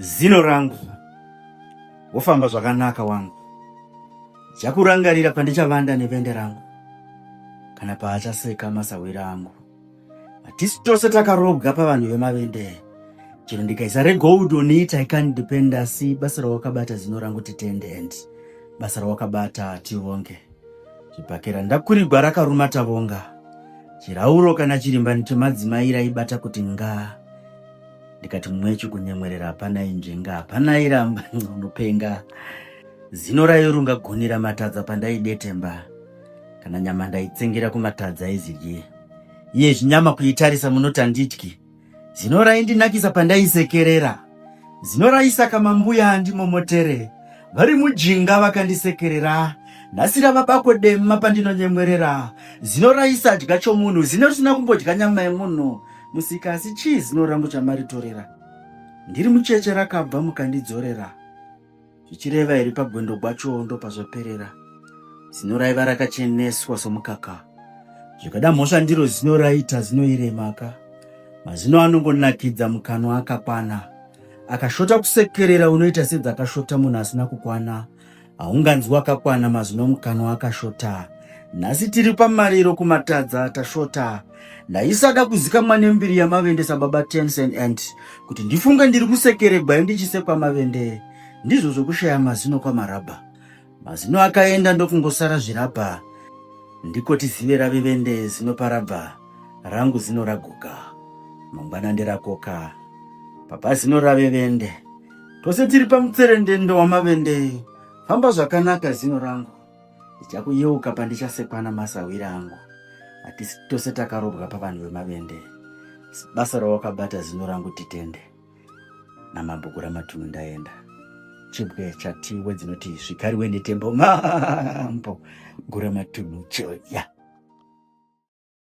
Zino rangu wofamba zvakanaka wangu chakurangarira pandichavanda nevende rangu kana paachaseka masahwira angu hatisi tose takarobwa pavanhu vemavende chero ndikaisa regold on it i can't depend asi basa rawakabata zino rangu titendent basa rawakabata tivonge zvipakera ndakurigwa rakaruma tavonga chirauro kana chirimbani chemadzimai raibata kuti ngaa ndikati mwechu kunyemwerera hapana inzvenga hapana iramba unopenga zino raiurunga goni ramatadza pandaidetemba kana nyama ndaitsengera kumatadza aizidye iye zvinyama kuitarisa munoti andityi zino raindinakisa pandaisekerera zino raisaka mambuya andimomotere vari mujinga vakandisekerera nhasi ravabako dema pandinonyemwerera zino raisadya chomunhu zino risina kumbodya nyama yemunhu Musika asi chii zino rangu chamaritorera ndiri mucheche rakabva mukandidzorera zvichireva iri pagwendo gwacho ndopazvaperera zino raiva rakacheneswa somukaka zvikada mhosva ndiro zino raita zinoiremaka mazino anongonakidza mukanwa akakwana akashota kusekerera unoita sedzakashota munhu asina kukwana haunganzwi wakakwana mazino mukanwa akashota nhasi tiri pamariro kumatadza tashota ndaisada kuzikamwa nembiri yamavende sababa tensen ant kuti ndifunge ndiri kusekeregwa endichisekwa mavende ndizvo zvokushaya mazino kwamarabha mazino akaenda ndokungosara zvirabha ndiko tizive rave vende zino parabha rangu zino raguka mangwana nderakoka papa zino rave vende tose tiri pamutserendendo wamavende famba zvakanaka zino rangu ndichakuyeuka pandichasekwana masahwiri angu hatisi tose takarobwa pavanhu vemavende basa rawakabata zino rangu titende namabhuku ramatunu ndaenda chibwe chatiwe dzinoti zvikariwe netembo mambo gura matunu choya yeah.